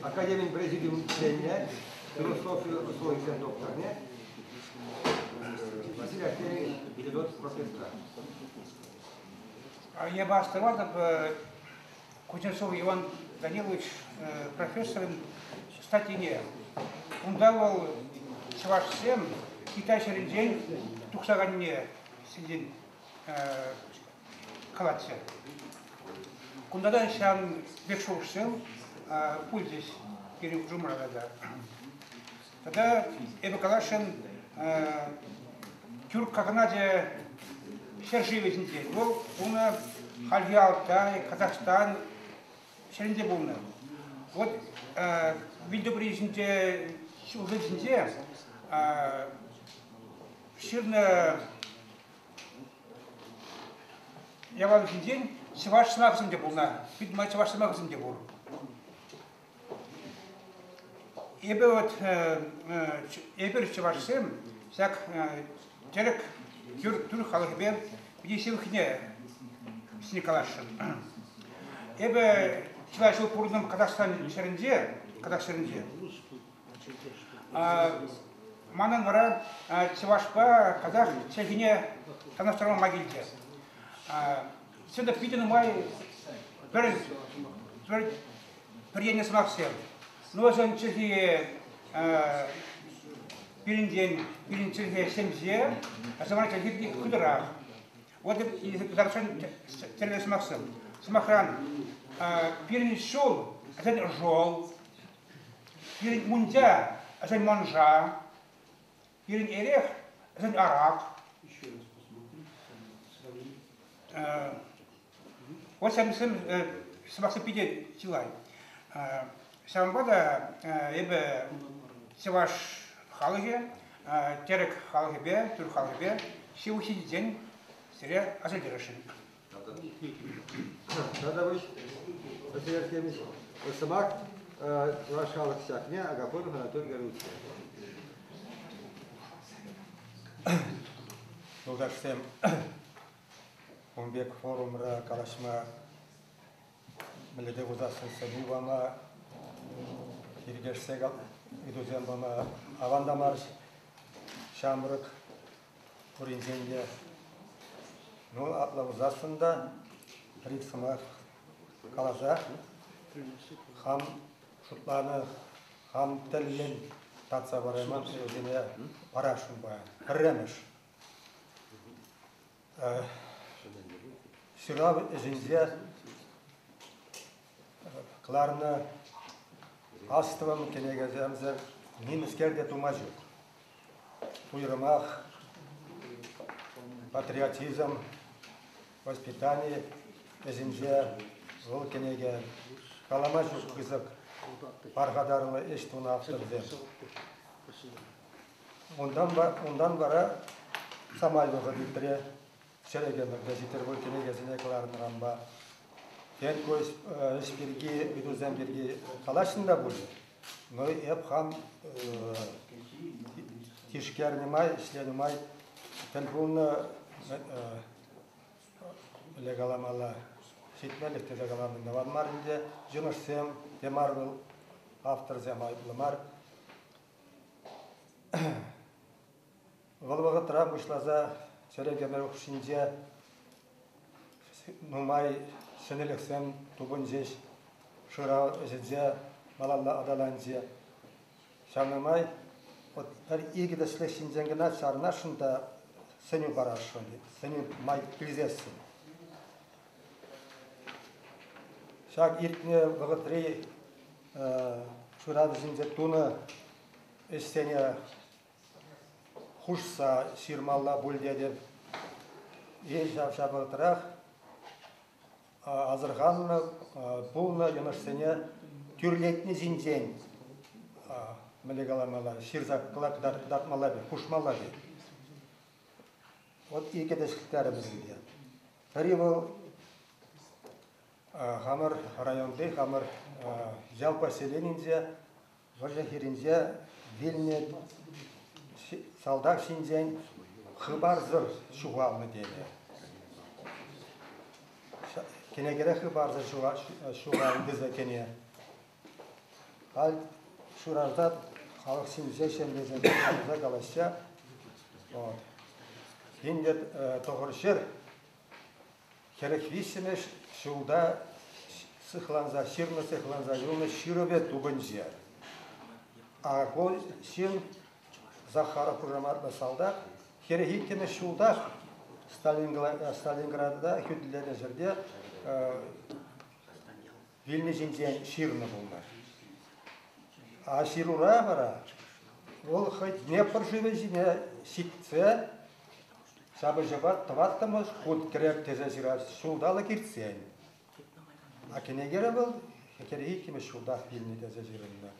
академин президиумӗнче философи ӑслӑлӑхӗсен докторне Василий Артемьевич Федот профессор. Я Аставатов, Кузнецов Иван Данилович профессорым, кстати, не. Унта вӑл чӑвашсем Китай ҫӗрӗнчен тухса кайнине сиен калатчӗ. Кунта та ҫан пек шухӑшсем пулчӗҫ пирӗн хушӑмра тата. Тата эпӗ каласшӑн тӳрк кагначӗ ҫӗршывӗ ҫинчен. Вӑл унӑ хальхи Алтай, Казахстан ҫӗрінде пулнӑ. Вот вилтӑпри ҫинче ҫулсем ҫинче ҫырнӑ Яланхинчен чӑваш сӑмахӗсем те пулнӑ. Пит май чӑваш сӑмахӗсем те пур. Эпӗ вот, эпир чӑвашсем ҫак тӗрӗк тӳр, тӳр халӑхӗпе питӗ ҫывӑхне сине каласшӑн. Эпӗ чылай ҫул пурӑнтӑм Казахстан ҫӗрӗнче, Казах ҫӗрӗнче. Манӑн вара чӑвашпа казах чӗлхине танлаштарма килчӗ. Сенда питӗ нумай пӗр пӗр пӗр енлӗ сӑмахсем. Носен чӗлхи пирӗнтен пирӗн чӗлхе ҫемҫе, самана чӗлхи хытӑрах. Вот кӑтартсан тӗрлӗ сӑмахсем. Сӑмахран, пирӗн ҫул, сен жол, Пирӗн унтя ӗсен манша, пирӗн эрех ӗсен арак. Вот сем сӑмахсем питӗ чылай. Ҫавӑнпа та эпӗ чӑваш халӑхӗ тӗрӗк халӑхӗпе, тӳр халӑхӗпе ҫывӑх ҫитиччен сире асилтересшӗн. Тата вӑл патриархемӗн сӑмах чӑваш халӑх чахне Агафон Анатолий Гавриловичне. Юлташсем, ун пек форумра калаҫма мӗллете хусассӑн сӗнӳ пама, тиркешсе ыйтусем пама аван та мар ҫамрӑк пуринчен те. Ну, апла пулсассӑн та пӗр-ик сӑмах каласа хам шутланӑ, хам тӗллӗн татса парайман сӑвӑсене парасшӑнпа. Пӗрремӗш. Ҫырав ӗҫӗнче кӑларнӑ астӑвӑм кӗнекесемсем нимӗскер те тума ҫук. Уйрӑмах патриотизм, воспитани ӗҫӗнче вӑл кӗнеке калама ҫук пысӑк пархатарлӑ ӗҫ тунӑ авторсем. Унтан, унтан вара самай вӑхӑт иртрӗ. чӗрӗкӗмӗр те Петербург кӗнекесене кӑларнӑранпа Ферько ӗҫ пирки, ыйтусем пирки калаҫнӑ та пулӗ. Но эп хам тишкернӗ май, ӗҫленӗ май тӗл пулнӑ Олег каламалла ҫитмеллех тесе калама май мар ӗнтӗ. Йӑнӑшсем те мар вӑл, авторсем айӑплӑ мар. Вӑл вӑхӑтра пуҫласа чӗрӗк ӗмӗр хушшинче нумай ҫӗнӗлӗхсем тупӑнчӗҫ, шырав ӗҫӗнче малалла аталанчӗ. Ҫавна май пӗр-икӗ тӗслӗх ҫинчен кӑна чарӑнасшӑн та сӗнӳ парасшӑн, сӗнӳ май илсессӗн. Ҫак иртнӗ вӑхӑтри шырав ӗҫӗнче тунӑ ӗҫсене хушса ҫырмалла пуль тетӗп. Е ҫав-ҫавӑртрах асӑрханнӑ пулнӑ йӑнӑшсене тӳрлетни ҫинчен мӗнле каламалла, ҫырса кӑтартмалла пек, хушмалла пек. Вот икӗ тӗслӗхтер вӗсемпе. Пӗри вӑл хамӑр районти, хамӑр ял поселенинче Вӑрҫӑ хирӗнче вилнӗ салтак ҫинчен хыпарсӑр ҫухалнӑ тенӗ. Кӗнекере хыпарсӑр ҫухалнӑ кӗне. Халь шуражда халӑх ҫинче ҫемьесем туса калаҫҫӗ. Вот. Кинде тӑхӑр ҫӗр Хӗрӗх виҫҫӗмӗш ҫулта сыхланса, ҫырлӑ сыхланса юлнӑ ҫырӑвӗ тупӑнчӗ. Аргонь ҫын Захаров хушаматлӑ салтак хӗрӗх иккӗмӗш ҫултах Сталинграда хӳтӗленӗ ҫӗрте вилнӗ ҫинчен ҫырнӑ пулнӑ. А ҫырура вара вӑл хӑй Днепр шывӗ ҫине ҫитсе ҫапӑҫӑва тӑваттӑмӗш хут кӗрек тесе ҫыраҫ ҫулталӑк иртсен. А кӗнекере вӑл хӗтӗри иккӗмӗш ҫултах вилнӗ тесе ҫырӑннӑ.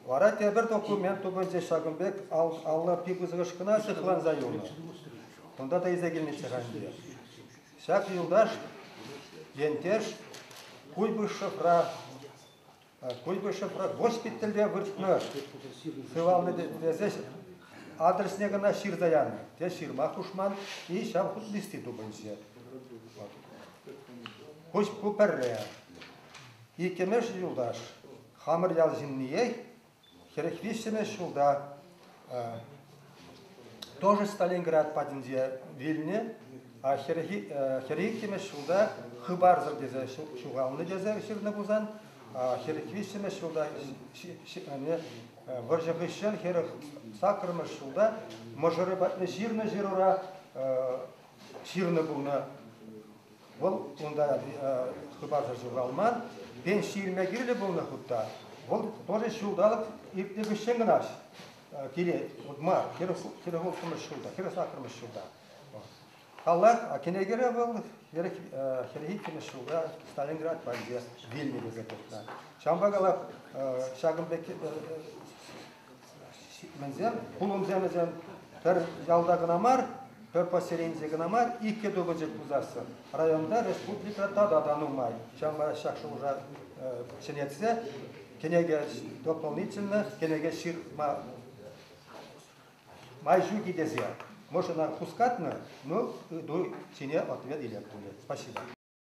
Вара тепӗр документ тупӑнчӗ ҫакӑн пек алла пи пысӑкӑш кӑна сыхланса юлнӑ. Кунта та илсе килнӗччӗ ха ӗнтӗ. Ҫак юлташ ентеш Куйбышевра Куйбышевра госпитальте выртнӑ сывалнӑ тесе адресне кӑна ҫырса янӑ. Те ҫырма хушман, и ҫав хут листи тупӑнчӗ. Куҫ ку пӗрре. Иккӗмеш юлташ хамӑр ял ҫынниех Хӗрӗх виҫҫӗмӗш ҫулта тоже Сталинград патӗнче вилнӗ, хӗрӗх иккӗмӗш ҫулта хыпарсӑр тесе ҫухалнӑ тесе ҫырнӑ пулсан, хӗрӗх виҫҫӗмӗш ҫулта вӑрҫӑ хыҫҫӑн хӗрӗх саккӑрмӗш ҫулта мӑшӑрӗ патне ҫырнӑ ҫырура ҫырнӑ пулнӑ. Вӑл унта хыпарсӑр ҫуралман, пен ҫирме кирлӗ пулнӑ хутта. Вӑл тоже ҫулталӑк иртнӗ хыҫҫӑн кӑна килет. Вот мар, хӗрӗх улттӑмӗш ҫулта, хӗрӗх саккӑрмӗш ҫулта. Халах кӗнекере вӑл хӗрӗх иккӗмӗш ҫулта Сталинград патӗнче вилнӗ пек тухнӑ. Ҫавӑнпа калах ҫакӑн пек Вӗсем, пулӑмсем вӗсем пӗр ялта кӑна мар, пӗр поселенце кӑна мар, иккӗ тупӑчӑк пусассӑн. Районта, республика тата та нумай. Ҫавна ҫак шухӑша ҫӗнетсе кӗнеке дополнительно кӗнеке ҫырма май ҫук-и тесе. Мӑшӑна хускатнӑ, ну, ку ҫине ответ илет пулӗ. Спасибо.